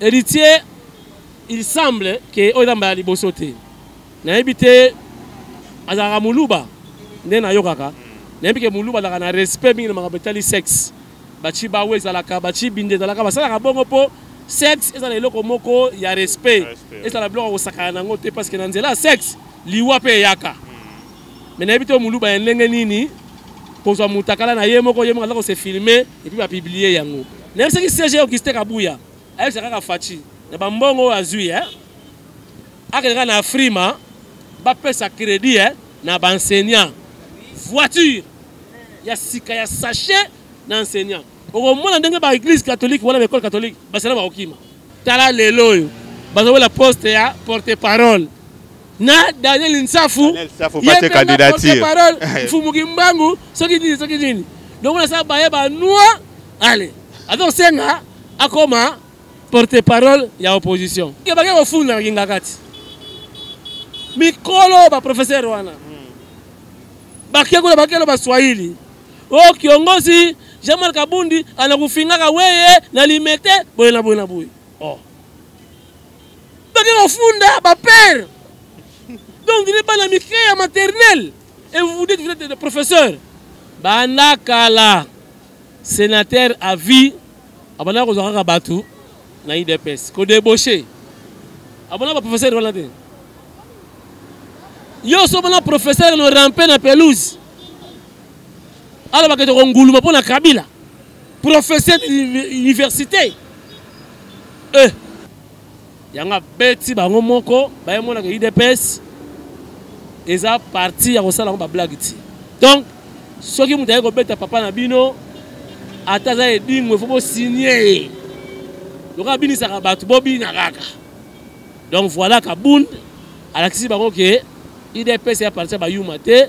Héritier, il semble que oyo eza mbala liboso te. Nayebi te azalaka muluba nde nayokaka. Nayebi ke muluba azalaka na respect mingi na makambo etali sexe. Baci bawe ezalaka, baci binde ezalaka, basalaka bongo mpo sexe ezala eloko moko ya respect. Ezala biloko ya kosakana na yango te parce que na nzela ya sexe liwa mpe eyaka. mais nayebi te muluba ya ndenge nini kozwa mutakala na ye moko ye moko aza kose filme epuis bapiblie yango nayebisaki cg auguste kabuya ayebisa kaka faci na bambongo oyo azwi e akende kaka na afrima bapesa crédit e na baenseignant voiture ya sika ya sachet na enseignant okomona ndenge baeglise catholique wana baekole catholique basala bakokima tala lelo oyo bazowela poste ya porte parole na daniel nsafu ye porte parole mfumu kimbangu soki nini soki nini donc nasala baye banoi ale azosenga akoma porte parole ya opposition bake kofunda na kingakati mikolo baprofesere wana hmm. bake kuna bakelo baswahili o oh, kiongozi jean marc abundi anakufingaka weye na limete boye na boye na boye oh. bake kofunda bapere donc ne bana mike ya maternel et vous vous dites vous êtes de professeur banda kala sénateur à vie abanda kozwa kaka bato na idps kodebauche abona baprofesseur wana te yo so omona professeur no rampe na pelouse alobaka ete konguluma mpo na kabila professeur université eh. yango abeti bango moko baye monaka udps eza parti ya kosala yango bablage ti donc soki moto ayei kobeta papa na bino ata aza edingo efo bosinie ye lokola abinisaka bato bobina kaka donc voilà kabund alakisi bango ke idps ya parti ya bayuma te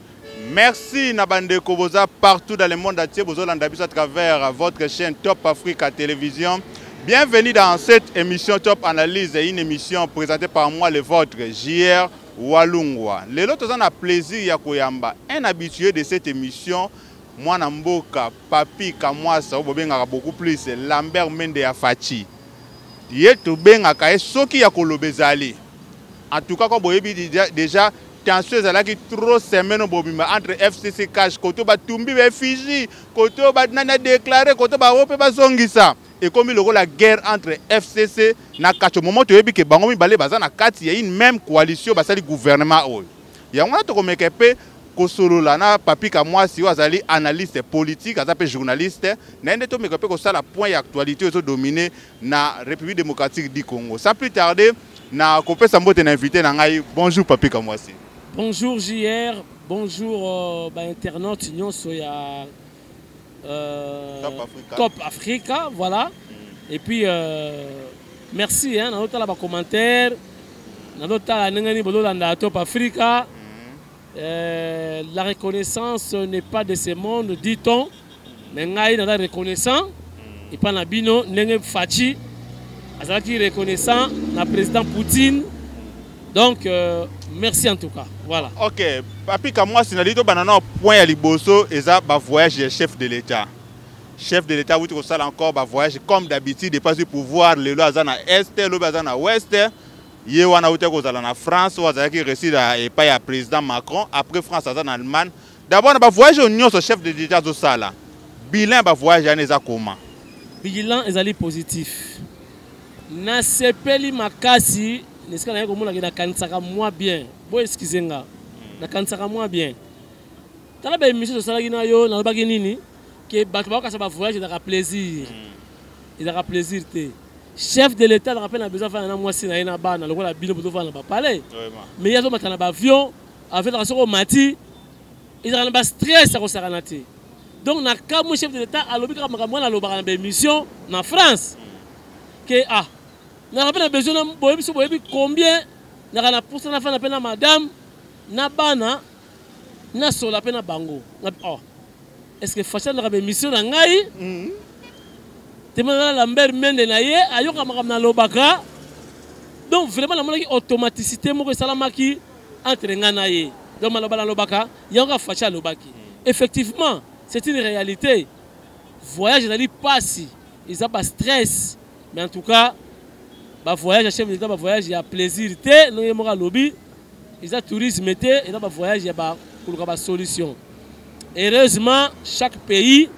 Merci na bandeko boza partout dans le monde entier bozo landa biso à travers votre chaîne Top Africa Télévision. Bienvenue dans cette émission Top Analyse, une émission présentée par moi le vôtre JR Walungwa. Lelo toza na plaisir ya koyamba un habitué de cette émission mwana mboka Papi Kamwasa oyo bobengaka beaucoup plus Lambert Mende ya Fachi. Ye tobengaka ye soki ya koloba ezali. En tout cas ko boyebi déjà tension ezalaki trop semaine obobima entre fcc cash koto batumbi baeffigie koto nani adeklare koto bango mpe bazongisa ekomi lokola guerre entre fcc na kacho momo toyebi ke bango mibale baza na kati ya une même coalition basali gouvernement oyo yango wana tokomeka mpe kosolola na papi kamwasi oyo azali analyste politique aza mpe journaliste naye nde tomeka mpe kosala point ya actualité oyo ezodomine na République démocratique du Congo. Sans plus tarder, na kopesa mbote na invité na ngai. Bonjour Papi Kamwasi. Bonjour JR, bonjour euh, ba internautes nyonso ya euh, Top Africa. Top Africa, voilà. Mm. Et puis euh, merci hein, na otala ba commentaires, na otala ndenge ni bololanda Top Africa. Mm. Euh, la reconnaissance n'est pas de ce monde, dit-on. Mais ngai naza reconnaissant et pas na bino ndenge Fatshi azalaki reconnaissant na président Poutine. Donc euh, merci en tout cas. Voilà. OK, papi Kamwasi na lito banana point ya liboso eza ba voyage ya chef de l'État. Chef de l'État wuti kosala encore ba voyage comme d'habitude et pas du pouvoir lelo aza na est, lobi aza na ouest. ye wana auti kozala na france oyo azalaki reside epai ya président macron après france aza na allemagne d'abord na bavoyage oyo nyonso chef de l'état azosala bilan ya bavoyage yana eza koma bilan ezali positif nasepeli makasi na esika naye komonaki nakanisaka mwa bien bo eskize nga nakanisaka mwa bien tala baémission tosalaki na yo nalobaki nini ke bato bakokasa bavoyage ezalaka plaisir hmm. ezalaka plaisir te chef de l'etat alaka mpe na besoin afanda na mwasi na ye na bana lokola bino bozofanda na bapalais mais ye azomata na baavion avion soki omati ezalaka na bastress ya kosakana te donc na kamwe chef de l'etat alobi kaka makambo wana alobaka na baémission na france ke ah naka mpe na besoin na boyebi so boyebi combien naka na posa nafanda mpe na madame na bana nasolola mpe na bango oh. est ce que faci alaka baemission na ngai mm. temanala lambert mende na ye ayoka makambo nalobaka donc vraiment namonaki automaticité moko esalamaki entre ngai na ye donc maloba nalobaka yango kaka faci alobaki mm. effectivement c'est une réalité voyage ezali mpasi eza bastress mais en tout cas bavoyage ya chef de l'état bavoyage ya plaisir te ndenge moko alobi eza tourisme te eza ba voyage ya ba koluka ba solution heureusement chaque pays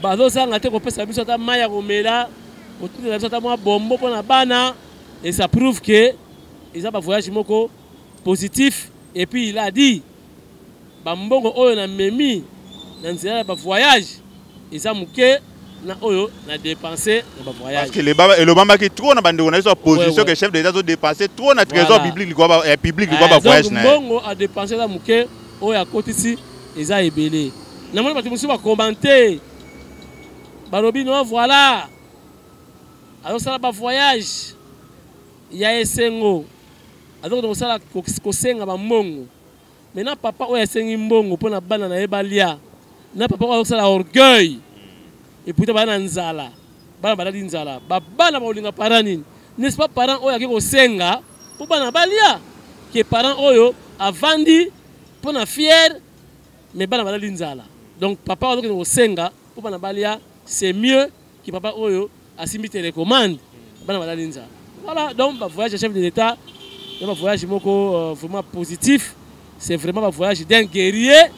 bazozanga te kopesa biso ata mai ya komela kotindela biso ata mwa bombo mpo na bana et ça prouve que eza ba voyage moko positif et puis il a dit Ba mbongo oyo na memi na nzela ya ba voyage eza muke na oyo na dépenser na ba voyage. Parce que elobamaki trop na bandeko na biso ya position que chef de l'État azo dépenser trop na trésor public likwa ba eh, public likwa ba eh, voyage na. Donc mbongo a dépenser na muke oyo akotisi eza ebele. Na moni bato mosusu ba commenter balobi no voilà azosala ba voyage Ya esengo azokende kosala kosenga bambongo me na papa oyo asengi mbongo mpo na bana na ye balia na papa oyo azosala orgueil eputa bana na nzala bana balali nzala babana bakolinga parent nini n'est-ce pas parent oyo ake kosenga mpo bana balia ke parent oyo avandi mpo na fiere me bana balali nzala donc papa oyo azokende kosenga mpo bana balia c'est mieux ke papa oyo asimbi télécommande bana balali nzala voilà donc ba voyage ya chef de l'état ya ba voyage moko euh, vraiment positif c'est vraiment ba voyage d'un guerrier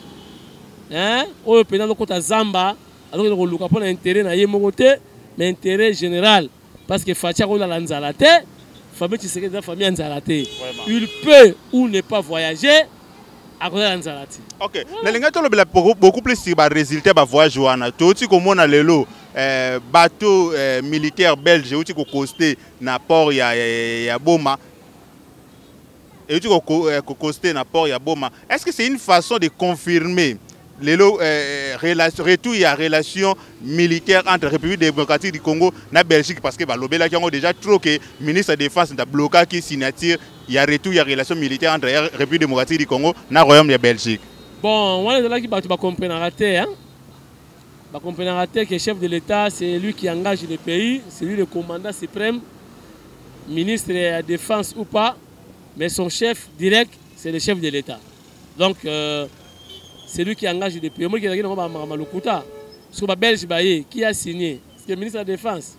hein oyo mpenza alokota zamba azokende koluka mpo na intérêt na ye moko te mais intérêt général parce que faci akolala nzala te famille tshisekedi eza famille ya nzala te il peut ou ne pas voyager akoyaka nzala ti ok nalingaki tolobela beaucoup plus sur baresultat ya bavoyage wana touti komona lelo eh, bateau eh, militaire belge euti kokoste na port ya, ya, ya boma euti kokoste eh, na port ya boma est ce que c'est une façon de confirmer lelo eh, relation, retour ya relation militaire entre république démocratique du congo na belgique parce que balobelaki yango déjà trop que ministre de défense nta blokaki signature ya retour ya relation militaire entre république démocratique du congo na royaume ya belgique bon wana ezalaki bato bacomprenaka te hein? bacomprenaka te que chef de l'état c'est lui qui engage le pays c'est lui le commandant suprême ministre ya défense ou pas mais son chef direct c'est le chef de l'état donc euh, celui qui engage de pays omoki ezalaki nango bamaka malokuta soki babelge baye qui a signé le ministre de la défense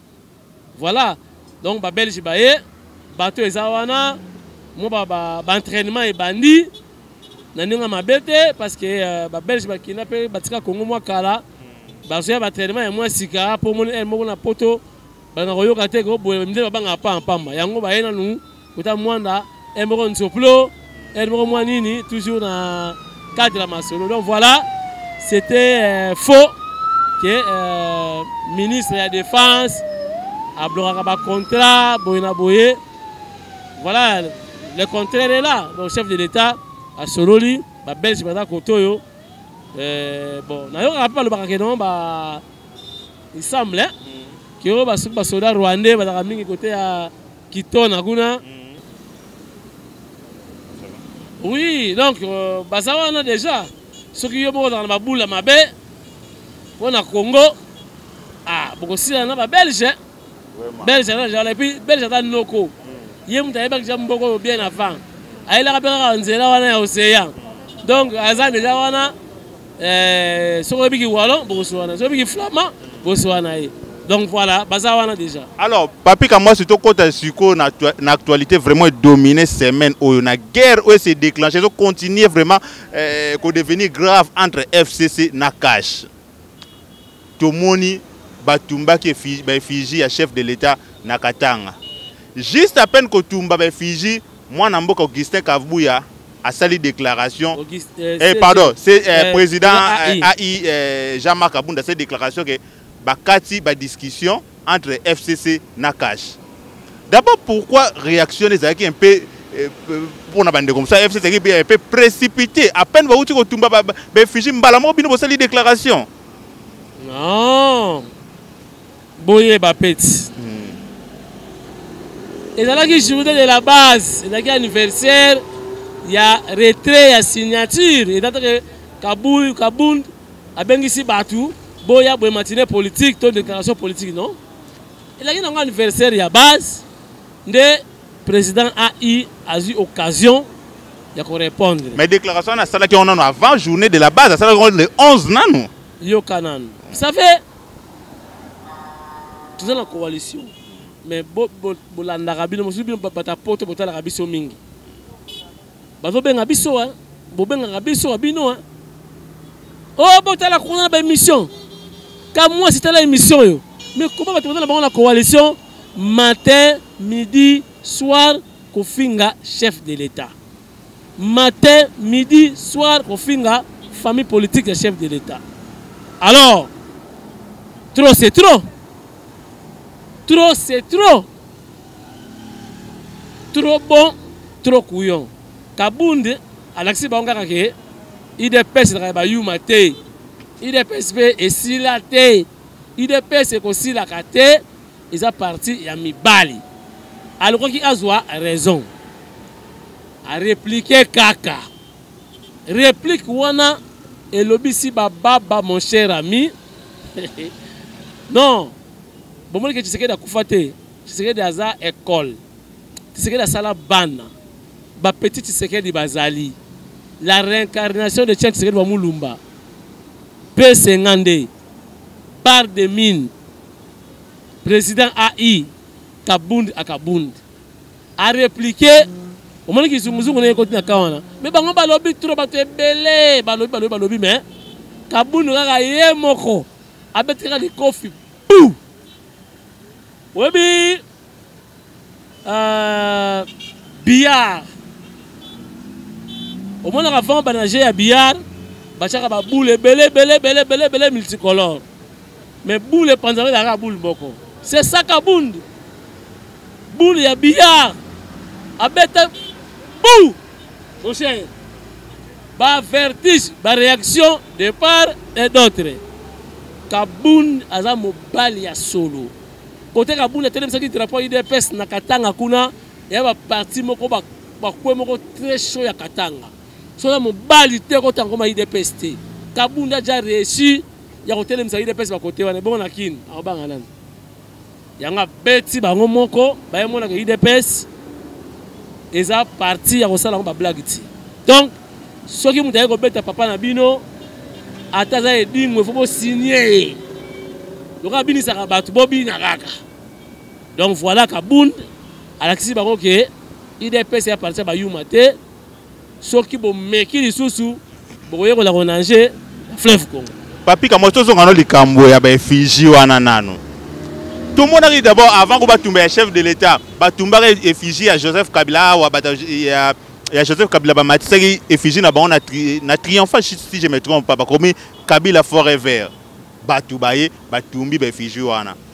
voilà donc babelge baye bato eza wana mwa baentrainement ba, ba ebandi na ndenge ya mabe te parce que euh, babelge bakenda mpe batika kongo mwa kala bazoya baentrainement ya mwa sika mpo omoni ele moko na poto bana koyoka te ko boye mde babanga pa mpamba yango baye nanu kota mwanda e moko nsoplo e moko mwa nini toujours na cadre ya masolo donc voilà c'était euh, faux que euh, ministre ya défense ablokaka bacontrat boye na boye voilà le contraire est là donc chef de l'état asololi babelge baza kote oyo euh, bon nayokaka mpe balobaka ke non ba il semble hein? mm. que ba soki ba soda rwandais bazalaka mingi kote ya kitona kuna mm. oui donc euh, baza wana déjà soki yo moko ozalaka na babula mabe mpo na congo ah, bokosila na babelge belge aza jala epuis belge aza noko hmm. ye moto ayebaki ja mboko oyo bien avant ayelaka mpe kaka nzela wana ya océan donc aza deja wana eh, soki oyebi kiwalo bokosuana soki oyebi kiflama bosuana ye donc voilà baza wana déjà alors papi kamwasi tokɔta sikoyo na, na actualité vraiment edomine semaine oyo na guerre oyo ese déclenche ezocontinue vraiment eh, kodevenir grave entre fcc na cash tomoni batumbaki ba effigie ya chef de l'etat na Katanga juste à peine kotumba ba effigie mwana mboka Augustin Kavubuya asali déclaration Auguste, euh, eh, pardon c'est euh, euh, président euh, AI euh, Jean-Marc Abunda cette déclaration que bakati ba discussion entre FCC na cash. D'abord pourquoi réaction les un peu euh, euh, pour na bande comme ça FCC qui un peu précipité à peine va outil kotumba ba réfugié mbala mo bino bosali déclaration. Non. Boye ba petit. Hmm. ezalaki journée de la base ezalaki anniversaire ya retrait ya signature ezalaki kabund abengisi bato boya boye matine politique to déclaration politique non elaki nango anniversaire ya base nde président ai azwi occasion ya korépondre mais déclaration wana asalaki yango nano avant journée de la base asalaki yango le 11 nano yoka nano ça fait toza na coalition mais bolandaka bino mosusu bino bata poto botalaka biso mingi bazobenga biso hein. bobengaka biso wa bino hein. oh botala kuna na baémission ka mwasi tala émission oyo mais koma bato baza na bango na coalition matin midi soir kofinga chef de l'état matin midi soir kofinga famille politique ya chef de l'état alors trop c'est trop trop c'est trop trop bon trop couillon kabund alakisi bango kaka ke idps ezalaka ya bayuma te idps mpe esila te idps ekosilaka te eza parti ya mibali alukaki azwa raison areplike kaka replike wana elobisi bababa mon cher ami non bomoni ke tshisekedi akufa te Tshisekedi aza ecole. Tshisekedi asala bana. Ba petit Tshisekedi bazali. La réincarnation de Tchien Tshisekedi wa Mulumba. Pe sengande. Bar de mine. Président AI. Kabund à Kabund. A répliquer. omoni kizunguzungu ndenge ekoti na ka wana me bango balobi tro bato ebele balobi balobi balobi me kabundu kaka ye moko abeti kaka likofi pu oyebi uh, billard omonaka avant banage ya billard batiaka baboule ebele ebele ebele ebele ebele multicolore mais boule epanzaka ezalaka boule moko c'est saka bundu boule ya billard abeta bou Mon cher, ba vertige, ba réaction de part et d'autre. Kabund aza mobali ya solo. Kote Kabund atelemisaki drapeau ya UDPS na Katanga kuna, ya ba parti moko ba bakwe moko très chaud ya Katanga. Soki mobali te kota ngoma UDPS te. Kabund aja réussi ya kotelemisa UDPS ba kote wana. Bongo na Kin, akobanga nani? yango abeti bango moko bayemonaka udps eza parti ya kosala yango bablage ti donc soki moto ayei kobeta papa na bino ata aza edingo efo bosinie ye lokola abinisaka bato bobina kaka donc voilà kabund alakisi bango ke idps ya parti ya bayuma te soki bomeki lisusu bokoyekola konange fleuve congo papi kamwa tozonga no likambo ya baeffigie wana nano tomonaki d'abord avant ko batumba ya chef de l'état batumbaka effigie ya joseph kabila awa bata ya ya joseph kabila bamatisaki effigie na bango na, tri, na triomphant si je me trompe pas bakomi kabila forever bato baye batumbi baeffigie wana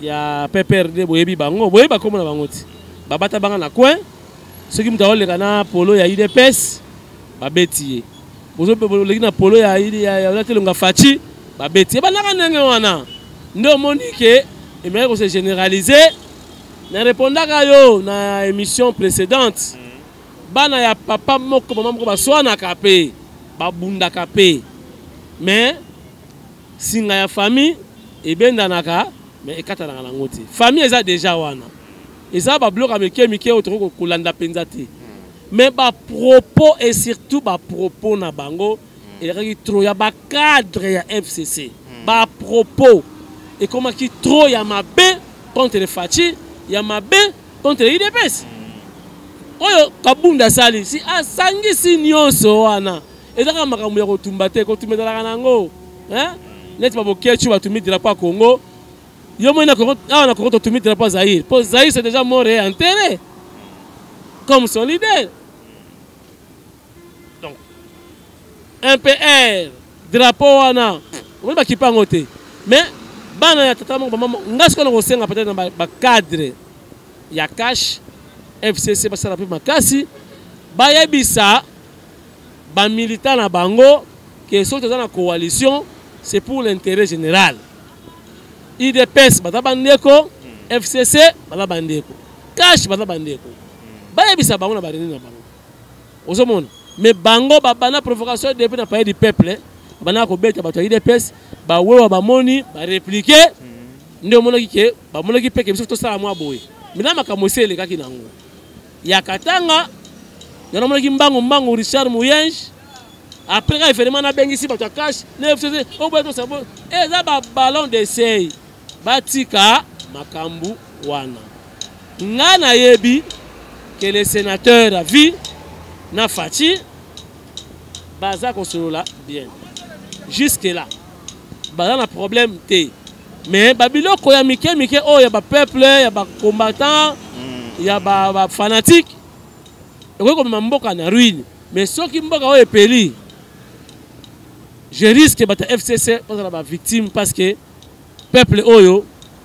ya pprd boyebi bango boyebi bakomona bango ti babata banga na coin soki moto akoleka na polo ya udps babeti ye oleki na polo ya olatelonga faci babeti ye bandaka ndenge wana nde omoni ke emeki kose généralise na repondaka yo na émission précédente mm. bana ya papa moko mama moko baswanaka mpe babundaka mpe mais Singa ya famille ebendanaka mais ekatanaka nango te. Famille eza deja wana. Eza ba bloka mike mike oyo tokoki kolanda penza te. Mais ba propos et surtout ba propos na bango elekaki trop ya ba cadre ya FCC. Ba propos ekomaki trop ya mabe contre le Fatshi, ya mabe contre le UDPS. Oyo Kabunda asali si asangisi nyonso wana eza kaka makambo ya kotumba te kotumba ezalaka na yango neti baboketshu batumi drapo ya congo yo moi awa na congo totumi drapo ya zaire mpo zaire c'est déjà mort et enterré comme son leader donc mpr drapo wana omoni bakipa yango te mais bana ya tata moko bamama ngai sikoyo na kosenga peut-être na bacadre ya cash fcc basala mpe makasi bayebisa ba militants na bango que soki toza na coalition c'est pour l'intérêt général idps baza bandeko fcc baza bandeko cash baza bandeko bayebisa bango na bareunion na bango ozomona me bango babanda provocation depuis na palais du peuple banda kobeta bato ya idps bawewa bamoni bareplike nde omonaki ke bamonaki mpe ke biso tosala mwa boye mina makambo esi elekaki nango ya katanga nde namonaki mbangu mbangu richard moyenge après ka evenema nabengisi bato ya cash nefcc oboya tosabo eza babalon desei batika makambo wana ngai nayebi ke le sénateur ya vie na faci baza kosolola bien jusque là baza na problème te mais babiloko ya mike mike oyo ya bapeuple ya bacombattant mm. ya bafanatique ekoki komema mboka na ruine mais soki mboka oyo epeli je risque bato ya fcc bazala bavictime parce que peuple oyo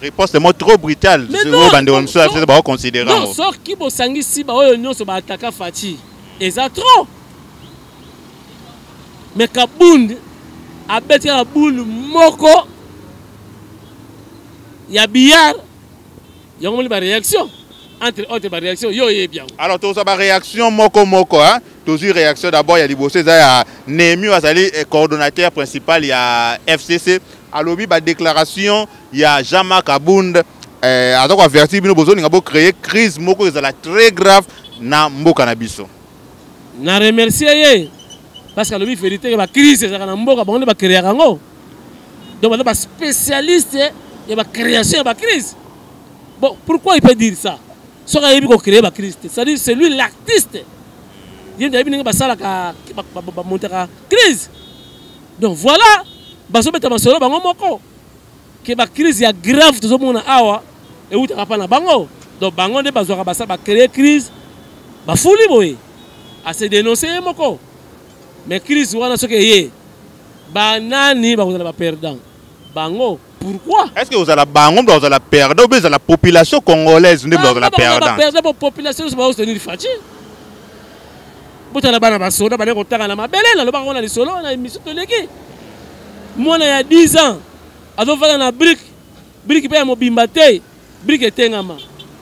riposte moko trop brutale oyo bandeko mosusu ya biso baoconsidere yango soki bosangisi baoyo nyonso baataka faci eza trop me kabund abeti kaka bule moko ya billard yango moni baréaction entre autres baréaction yo oyebi yango alors tozwa baréaction moko moko hein? tozwi réaction d'abord ya liboso eza ya nemi azali eh, coordonnateur principal ya fcc alobi ba declaration ya Jean Marc Abund eh, aza ko avertir bino bozolinga bo créer crise moko ezala très grave na mboka na biso na remercier ye parce que alobi verité ke ba crise ezalaka na mboka bango nde ba créaka yango donc baza ba spécialiste ya ba création ya ba crise bon pourquoi il peut dire ça soki ayebi ko créer ba crise te c'est-à-dire c'est lui l'artiste ye nde ayebi ndenge basalaka bamontaka crise donc voilà bazobeta masolo bango moko ke bacrise ya grave tozomona awa ewutaka mpa na bango donc bango nde bazwaka basa bacreye crise bafuli boye ase denonse ye moko mais crise wana soki eye banani bakozala baperdant bango pourquoi est ce que ozala bango mpe ozala perdant obe ezala population congolaise nde mpe ozala perdantperdant po population nyonso baostenir faci botala bana basoda bale kotanga na mabele nalobaka ngo na lisolo na émission toleki mwana ya 10 ans azofanda na brike brike mpe ya mobimba te brike etengama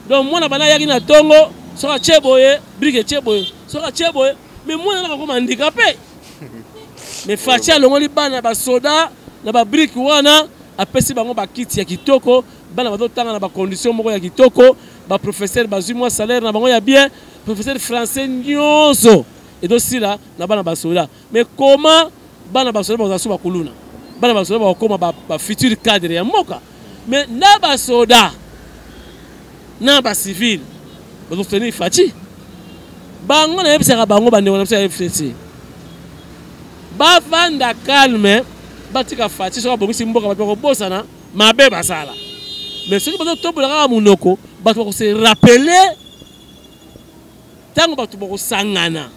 donc mwana bana ayaki na tongo soki atie boye brike etie boye soki atie boye mais mwana naka koma handikape mais faci alongoli bana basoda na babrike wana apesi bango bakiti ya kitoko bana bazotanga na bacondition moko ya kitoko baprofesseur bazwi mwa salaire na bango ya bien professeur français nyonso ezosila na bana basoda mais comment bana basoda bakozala so bakuluna bana basoda bakokoma bafuture ba cadre ya mboka mais na basoda na bacivile bazosoutenir faci bango nayebisaka bango bandeko na biso ya fcc bavanda calme batika faci soki abongisi mboka bato bakobosana mabe basala mais soki bazotombola kaka monoko bato bakose rappeler ntango bato bakosangana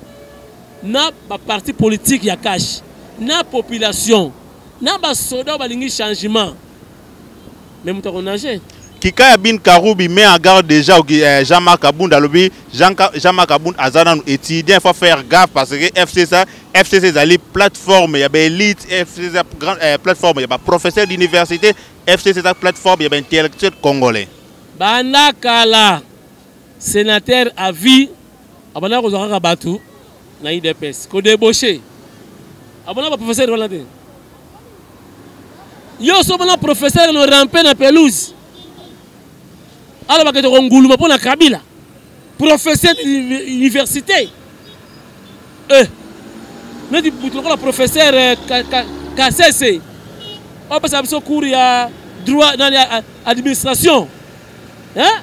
na baparti politike ya kashe na population na basoda oyo balingi changement me moto akonage kika ya bin karubi met en garde déjà euh, jean marc abund alobi jean, jean marc abund aza nanu étudiant faut faire gaffe parce que fcc fcc ezali plateforme ya baélite fcc eza euh, plateforme ya baprofesseur d'université fcc eza plateforme ya baintellectuel congolais banda kala Senateur à vie abanda kozwa kaka bato na idps kodebauche abona baprofesseur wana te yo so omona professeur no rampe na pelouse alobaka toko nguluma mpo na kabila professeur d'université eh, neti butu lokola professeur eh, kasese opesa biso cours ya droit nani administration eh?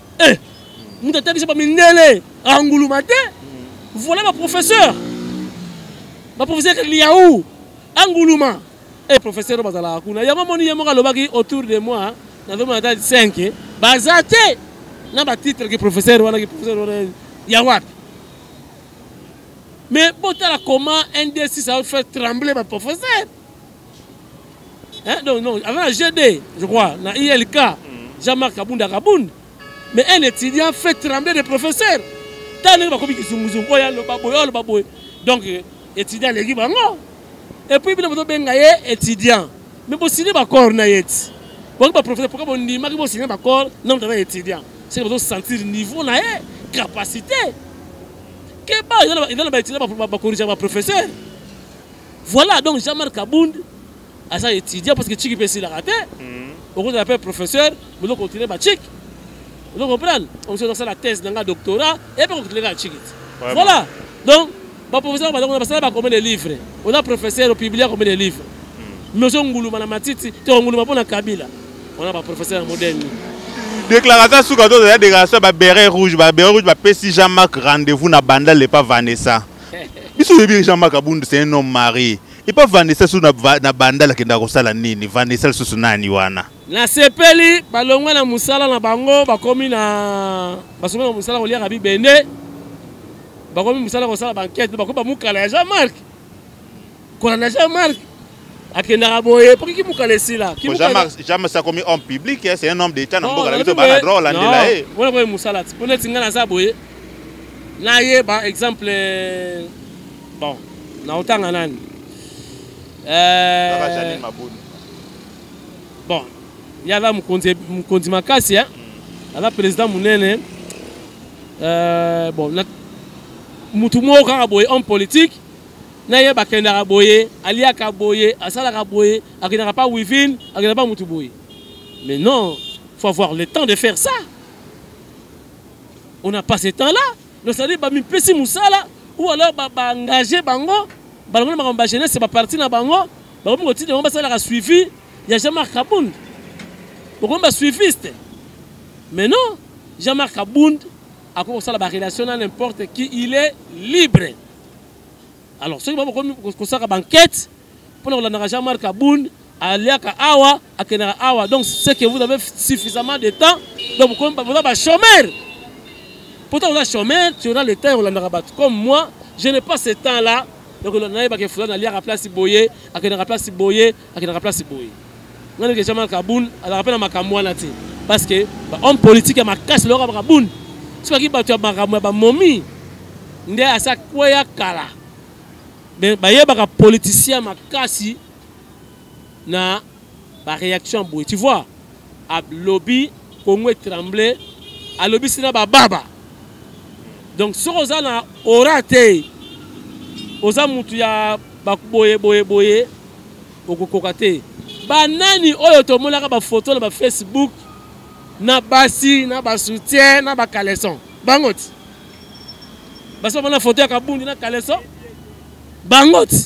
eh moto atangisa ba mindele anguluma te voilà ba professeur ba professeur liaou anguluma eh professeur bazalaka kuna yango moni ye moko alobaki autour de moi nazomona ata 5 baza te na batitre ki professeur wana ki professeur wana ya wapi mais botala comment ndc ça fait trembler ba professeur Hein, donc, non, avant la GD, je crois, la ILK, mm. Jean-Marc Kabunda Kabound, mais un étudiant fait trembler des professeurs. Tant que bakomi kizunguzungu, oya loba boye, oya loba boye. Donc, euh, étudiant legi bango. Et puis, bino bozobenga ye étudiant. Mais bosini bakor na ye ti. Bongo ba professeur, pourquoi bondimaki bosini bakor na mutana étudiant. C'est que bozo sentir niveau na ye, capacité. Keba, il y a ba étudiant ba corriger ba professeur. Voilà donc Jean-Marc Kabund aza étudiant parce que chiki pe silaka te. Hmm. Okozala pe professeur, bozo continuer ba chiki. Vous comprenez On se la thèse dans le doctorat et puis on continue la chiki. Voilà. Donc ba professeur ba donc basala ba combien de livres On a professeur au public combien de livres hmm. Mais on nguluma na matiti, te nguluma pona Kabila. On a ba professeur moderne. déclaration suka to oza déclaration ya baberet rouge baberet rouge bapesi jean marc rendez-vous na banda lepa vanessa biso oyebi jean marc abund c'est un homme marie epa vanessa susu na bandal akendaka kosala nini vanessa lisusu nani wana nasepeli balongwe na mosala na bango bakomi na basomi na mosala koliaka bibende bakomi mosala kosala bankete bakomi bamukala ya jean marc kola na jean marc akendaka boye po kiki mokala esila jamas akomi homme public c'est un homme d'état na mboka na biso bana droit olandela ye wana boye mosala ti mpo neti ngai naza boye nayeba exemple euh, bon naotanga nani euh, bon ye aza mokonzi makasi eh? mm. aza président monene euh, bon mutu moko kaka boye homme politique na ye bakendaka boye aliaka boye asalaka boye akendaka pa wivine akendaka pa mutu boye mais non faut avoir le temps de faire ça on a pas ce temps là donc ça dire bamipesi mosala ou alors baengage bango balongo na makambo bajeunesse baparti na bango bakomi kotinda bango basalaka suivi ya jean marc kabund bokomi basuiviste mais non jean marc kabund akoki kosala barelation na n'importe qui il est libre alors soki bakomi kosaka banquete mpona kolandaka jean marc aboun aliaka awa akendaka awa donc ce que vous avez suffisamment de temps donc boza bachomere pourtant oza chomere tu auras le temps ya kolandaka bato comme moi je n'ai pas ce temps là donc nayebaka efula naliaka place boye akendaka place boye akendaka place boye nga ndenge jamal kabun azalaka mpe na makambo wana te parce que bahomme politique ya makasi loyoka bakabun soki aki bato ya makambo ya bamomi nde asi akweya kala bayebaka politicien makasi na baréaction boye tu vois a lobi Congo est tremblé a lobi sina ba baba donc soki oza na aura te oza mutu ya boye boye boye okokoka te banani oyo tomonaka bafoto na bafacebook na basi na basoutien na bacaleson bango ti basi bamona foto ya kabundi na caleson bango ti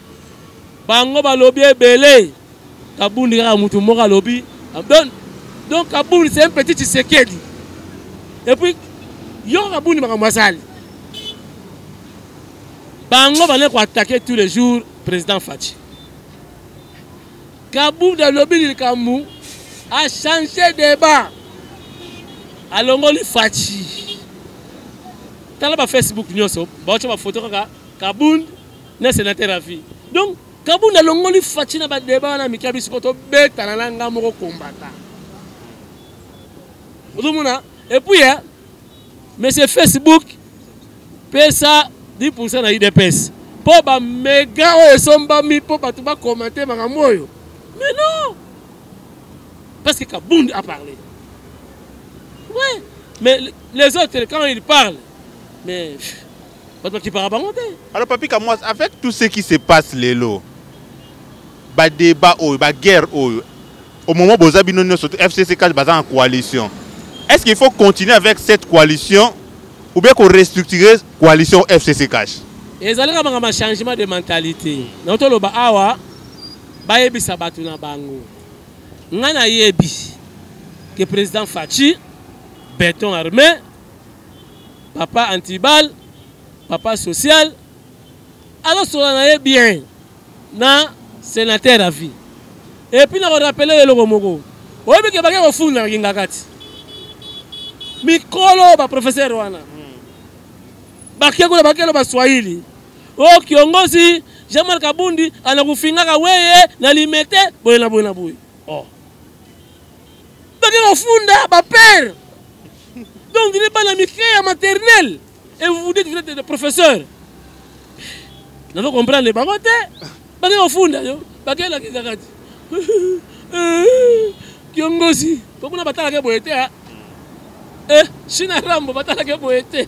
bango balobi ebele kabundi kaka mutu moko alobi donc donc kabundi c'est un petit tshisekedi et puis yo kabundi makambo asali bango bale koatake tous les jours président faci kabundi alobi likambo achange débat alongoli faci tala bafacebook nyonso baotya bafoto kaka kabundi na senateur à vie donc kabunda alongoli faci na badeba wana mike ya biso mpo tobetana na ngai moko kombata ozomona epuis ya eh, monsieur facebook pesa 10 pourcent na udps mpo bamega oyo esombami mpo bato bakomante makambo oyo mais non parce que kabund a parlé ouais mais les autres quand ils parlent mais bato bakipaka bango te alors papi kamwas avec tout ce qui se passe lelo badébat oyo baguerre oyo au moment boza bino nyonso fcc kati baza na coalition est ce qu'il faut continuer avec cette coalition ou bien korestructurer coalition fcc cash ezali kaka makambo ya changement de mentalité na toloba awa bayebisa bato na bango ngai nayebi ke président faci beton armé papa antibal papa social azosola na ye bien na sénateur à vie epuis na korapele yo eloko moko oyebi ke bake kofunda na kingakati mikolo baprofesseur wana bake kuna bakelo baswahili o oh, kiongozi jean marc abundi anakufingaka weye na limete boye na boye na boye oh. bake kofunda bapere donc dine bana mike ya maternel et vous vous dites vous êtes de professeur nazo comprendre bango te bake kofunda yo bakelakisa kati kiongosi po kuna batalaka boye te e eh, shina rambo batalaka boye te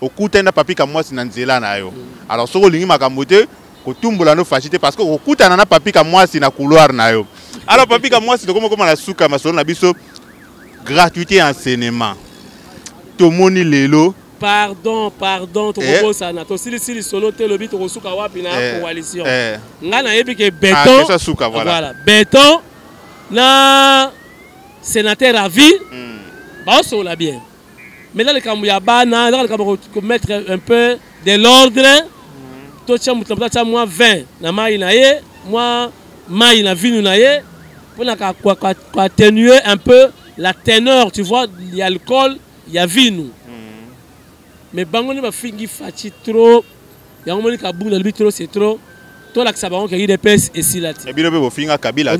okutani na papi kamwasi na nzela na yo alors soki olingi makambo te kotumbola no fashi te parce que okokutana na papi kamwasi na couloir na yo alors papi kamwasi tokoma koma na suka masolo na biso gratuité ya enseignement tomoni lelo pardon pardon eh. tokobosana tosilisi lisolo te lobi tokosuka wapi na eh. coalition eh. ngai nayebi ke beton ah, voilà beton na sénateur à vie hmm. baosola bien maintenant likambo ya bana ezaka likambo komettre un peu de l'ordre mm. totya moto na moto atya mwa 20 na mai na ye mwa mai na vinu na ye mpo na koatténue un peu la teneur tu vois ya alcool ya vinu mm. mais bango nde bafingi faci trop yango moni kabundu alobi trop c'est trop tolakisa bango ke udps esila te eh, bino mpe bofinga kabila ah,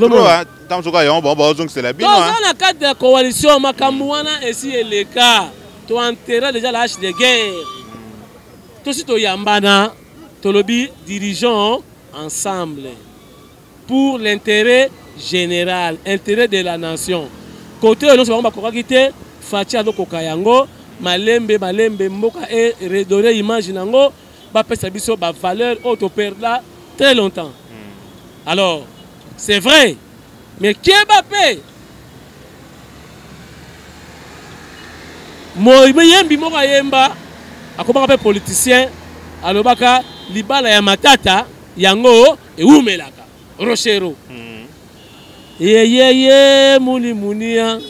ntango soki yango bango baozongisela bino toza ah. na cadre ya coalition makambo wana esi eleka toentera déjà la hache de guerre tosi toyambana tolobi dirigeant ensemble pour l'intérêt général intérêt de la nation kote oyo nyonso bango bakokaki te faci azokoka yango malembe malembe mboka e redore image na yango bapesa biso bavaleur oyo toperda très longtemps hmm. alors c'est vrai mais keba mpe moyembi moko ayemba akomaka mpe politicien alobaka libala ya matata yango ewumelaka rochero mm. yeyeye muni munia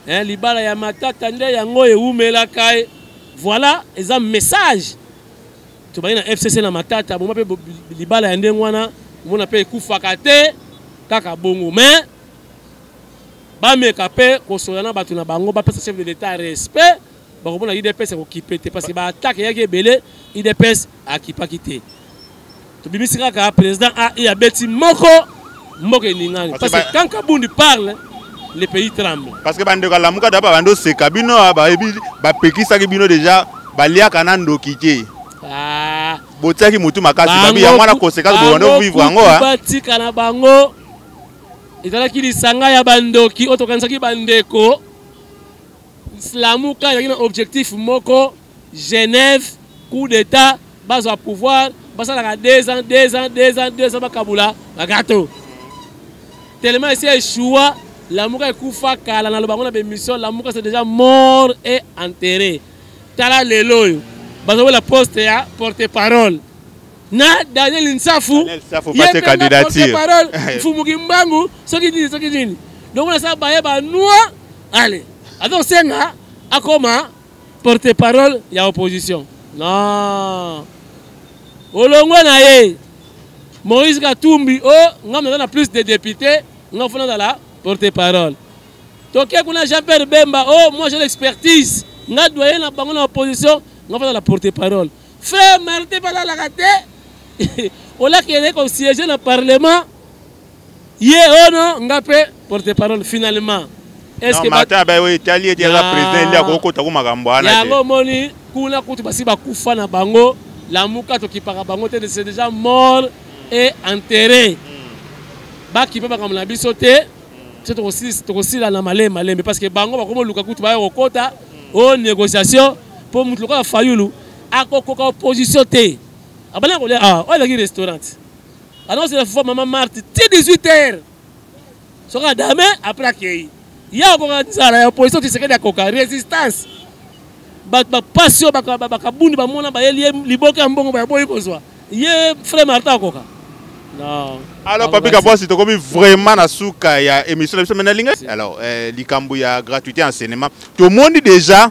eh, libala ya matata nde yango ewumelaka ye voilà eza message tobandi na fcc na matata boma mpe libala ya ndenge wana omona mpe ekufaka te kaka bongo mais bameka mpe kosola na bato na bango bapesa chef de l'etat respect bakomona udps ekokipe te parce que baattaque eyaki ebele udps akipaki te tobimisi kaka président ai abeti moko mboka eningani parce que quand kabundi parle le pays tremble parce que bandeko alamuka da babandi oseka bino ah, bayebi bapekisaki bino déjà baliaka na ndoki te ah. botiaki motu makasi babi yango wana conséquence bobandi ovivre yango ah. batika na bango ezalaki lisanga ya bandoki oyo tokanisaki bandeko Lamuka ezalaki na objectif moko Genève coup d'état bazwa pouvoir basalaka 2 ans 2 ans 2 ans 2 ans bakabula bagato tellement esi echoua lamuka ekufa kala naloba yango na bémission lamuka c'est déjà mort et enterré tala lelo oyo bazobela poste ya porte parole na daniel nsafu ye porte parole mfumu kimbangu soki nini soki nini donc nasala baye banoi ale aza kosenga akoma porte parole ya opposition non olongwe na ye moïse katumbi o oh, ngai naza na plus de député ngai fona azala porte parole toke kuna jean pierre bemba o oh, moi j'ai l'expertise ngai doye na bango na opposition ngai fona azala porte parole frère martin balalaka te olakende kosiege na parlement ye ono nga mpe porte parole finalement martin abaye oyo etali ete aza président endi akokota ko makambo wana yango omoni kuna kutu basi bakufa na bango lamuka tokipaka bango te c'est déjà mort et enterré hmm. bakipe makambo na biso te so tokosila na malembe malembe parce que bango bakoma oluka kutu baya kokota hmm. o négociation mpo moto lokola fayulu akokoka opposition te abandaki kolia awa oyo ezalaki restaurant anakosela fo mama marte ti 18 heures soki adame apres akei ye akoka nzala ya opposition tisekedi akoka résistance bato bapasi oyo bakabundi bamona bayeli ye liboke ya mbongo bayaboyi kozwa ye frai martin akoka non alors papi kabwasi tokomi vraiment na suka ya émission na biso mais nalinga alors euh, likambo ya gratuité en cinéma tomoni déjà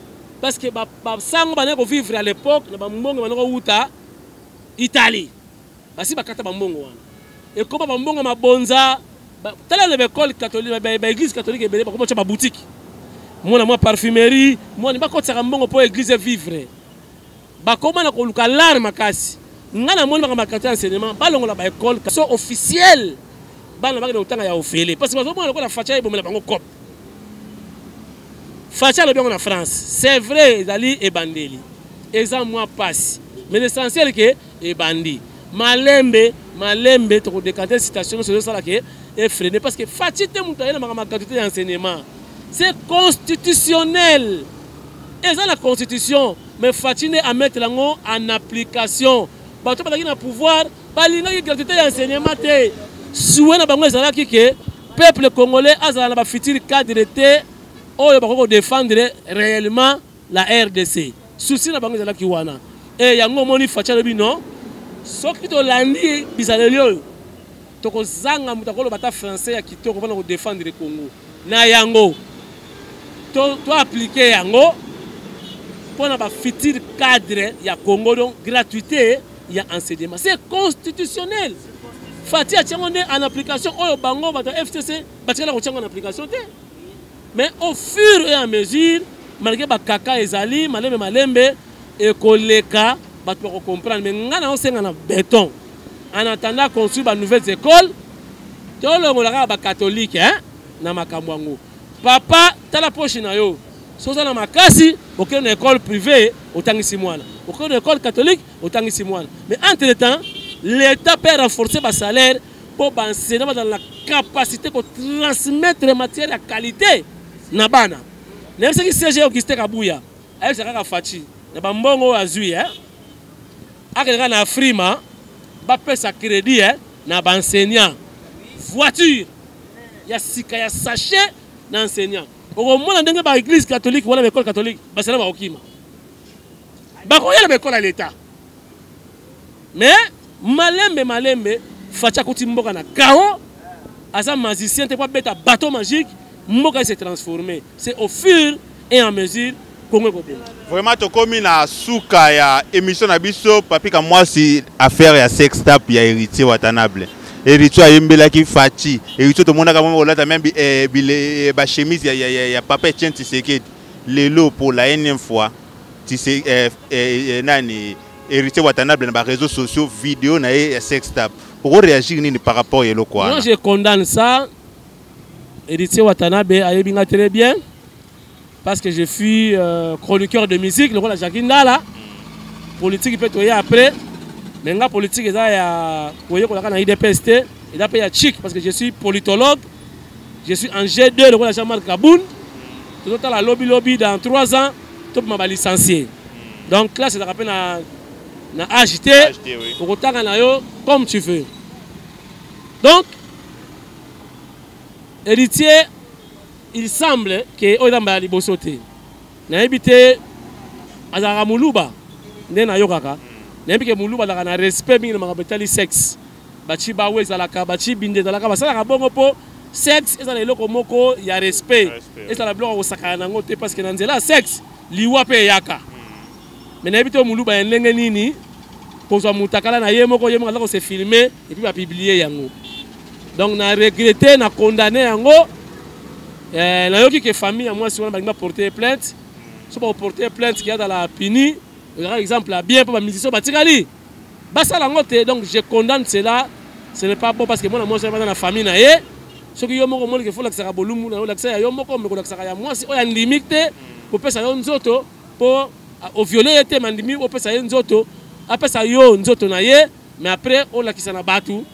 parce que ba ba sango ba ko vivre à l'époque na ba mbongo ba ko wuta Italie basi bakata ba mbongo wana ekoma ba mbongo mabonza tala na baekole catholique baeglise catholique ebele bakoma tya baboutique mwana mwa parfumerie mwana bakotisaka mbongo mpo eglise vivre bakoma na koluka lare makasi ngai namoni makambo ya quartier ya enseignement balongola baekole so officiel bana bakende kotanga ya ofele parce bazomona lokola facha ebomela bango cop facha alobi yango na france c'est vrai ezali ebandeli eza mwa mpasi mais l'essentiel ke ebandi malembe malembe tokodekante citation nyonso ezosala ke efrene parce que fachi te moto aye na makambo ya gratuité ya enseignement c'est constitutionnel eza na constitution mais faci nde amettre yango en application bato bazalaki na pouvoir balingaki gratuité ya enseignement te sue na bango ezalaki ke peuple congolais azala na bafuture cadre te oyo bakoki kodefendre réellement la rdc susi na bango ezalaki wana e yango omoni faci alobi non soki tolandi bizaleli oyo Tokozanga moto akoloba ata français ya kitoko mpona kodefendre Congo. Na yango, to, to aplike yango mpo na bafuture cadre ya Congo, donc gratuité ya enseignement. C'est constitutionnel. Fati atyango nde en application oyo bango bato ya FCC batikala kotyango en application te. mais au fur et à mesure malgré bakaka ezali malembe malembe ekoleka bato bakocomprendre mais ngai naosenga na beton en attendant construire ba nouvelles écoles tolongola kaka bakatolike eh? na makambo yango papa tala poshi na yo so oza na makasi okende na école privée otangisi mwana okende na école catholique otangisi mwana mais entre temps l'état mpe renforce basalaire mpo ba enseignant bazala na capacité kotransmettre matière ya qualité na bana nayebisaki cg augustin kabuya ayebisa kaka faci na bambongo oyo azwi eh? akende kaka na afrima bapesa crédit eh? na baenseignant voiture ya sika ya sachet na enseignant okomona ndenge baeglise catholique wana baekole catholique basala bakokima bakoya na baekole ya leta mais malembe malembe facha akuti mboka na kao aza magicien te mpo abeta bateau magique mboka ese transforme c'est au fur et en mesure kongo ekobonga vraiment tokomi na suka ya émission na biso papika mwasi affaire ya sextap ya héritier watanable eritio ayembelaki faci eritio tomonaka mwa kolata me eh, eh, bachemise ya papa etienne tisekedi lelo mpo la enième fois tise eh, eh, eh, nani héritier watanable na ba réseaux sociaux vidéo na ye ya sex tap oko réagir nini par rapport ya eloko wana moi je condamne ça héritier watanabe ayebi nga très bien parce que je suis euh, chroniqueur de musique lokola jacqui ndala politique mpe toye après mais nga politique eza ya koyekolaka na idps te eza mpe ya chic parce que je suis politologue je suis en g2 lokola jean marc kaboun tozotala lobilobi dans 3 ans tobima ba licencie donc classe ezalaka mpe na na age te okotanga na yo comme tu veux donc héritier il semble ke oyo eza mbala liboso te nayebi te azalaka moluba nde nayokaka nayebi ke moluba azalaka na respect mingi na makambo etali sexe bachi bawe ezalaka bachi binde ezalaka basalaka bongo mpo sexe ezala eloko moko ya respect ezala biloko ya kosakana nango te parce que na nzela ya sexe liwa mpe eyaka hmm. me nayebi te moluba ya ndenge nini kozwa motakala na ye moko ye moko aza kose filme epuis bapiblie yango donc na regrete na condamne yango eh, nayoki ke famille ya mwasi wana balingi baporte plainte hmm. so baporte plainte ke azala puni ezalaka exemple ya bien mpo bamusicien batikali basala yango te donc je condamne cela ce n'est pas bon parce que mwana mwasi wana na famille na ye soki yo moko omoni kefo olakisaka bolumu na yo olakisa ya yo moko me kolakisaka ya mwasi oyo andimi te kopesa yo nzoto mpo oviole ye te mandimi opesa ye nzoto apesa yo nzoto na ye mais après olakisa na bato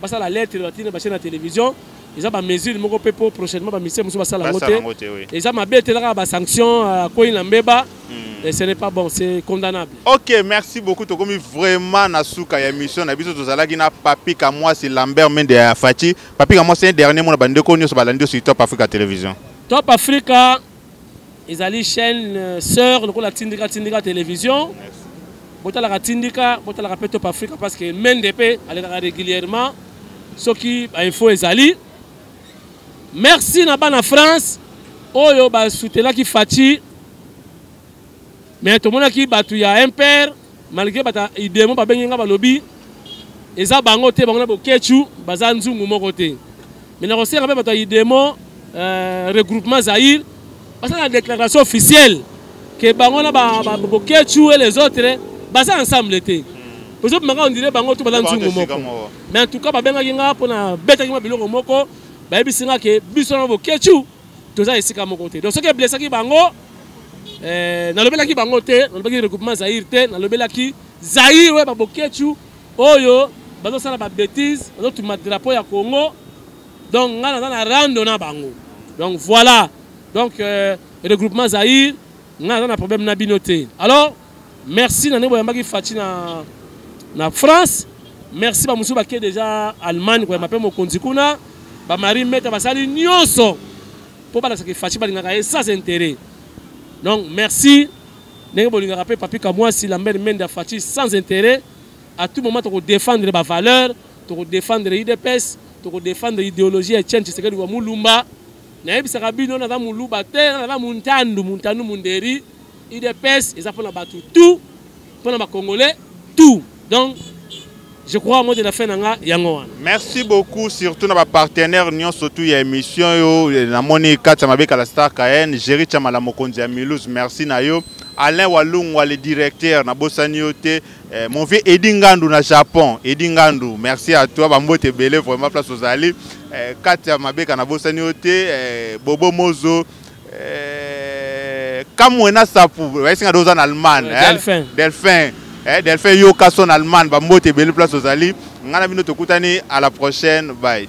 basala lettre batine bashe na télévision eza ba mesure moko mpe mpo prochainement bamisie mosusu basala yango te eza mabe te elaka basanction akwei euh, na mbeba hmm. ce n'est pas bon c'est condamnable ok merci beaucoup tokomi vraiment na suka ya émission na biso tozalaki na papi kamwasi lambert mende ya faci papi kamwasi un dernier mot na bandeko nyonso balandi yo sur top africa télévision top africa ezali chaîne euh, sœur lokola tindika tindika télévision botalaka tindika botalaka mpe top africa parce que mende mpe alekaka régulièrement soki bainfo ezali merci na bana france oyo basutelaki faci mais tomonaki bato ya mpr malgré bata idemo babengi nga balobi eza bango te bango na boketshu baza nzungu moko te me na kosenga mpe bato ya idemo euh, regroupement zaire basala déclaration officielle ke bango na boketshu et les autres baza ensemble te ozo maka ondire bango to baza nzungu moko mais en tout cas babengaki nga mpo na betaki ma biloko moko bayebisi nga ke biso na boketshu toza esika moko te donc soki eblesaki bango eh, nalobelaki bango te nalobelaki regroupement zaire te nalobelaki zaire oyo babokechu oyo bazosala babétise bazotuma drapeau ya congo donc ngai naza na rando na bango donc voilà donc euh, regroupement zaire ngai naza na problème na bino te alors merci na ndenge boyambaki faci na, na france merci bamosusu bake deja allemagne koyamba mpe mokonzi kuna bamari meta basali nyonso mpo balakisaki faci balingaka ye sans intérêt donc merci ndenge bolingaka mpe papi kamwasi lambert mende ya faci sans intérêt à tout moment tokodefendre bavaleur tokodefendre idps tokodefendre idéologie ya etienne tshisekedi wa mulumba nayebisaka bino naza muluba te naza muntandu muntandu munderi udps eza mpona bato tout mpona bacongolais tout donc je crois mode na fin na nga yango wana merci beaucoup surtout na bapartenaire nyonso tu ya émission yo eh, namoni kati ya mabeka la star kaen géri chamala mokonzi ya milus merci na yo alain walungwa le directeur nabosani yo te eh, mon vieux edi ngandu na japon edi ngandu merci à toi bambote ebele vraiment place ozali eh, kati ya mabeka nabosani yo te eh, bobo mozo Eh, kamwe na sapu bayesinga do oza na allemagne eh, delphin delphin eh, delphin yoka son allemagne bambote ebele place ozali ngai na bino tokutani à la prochaine bye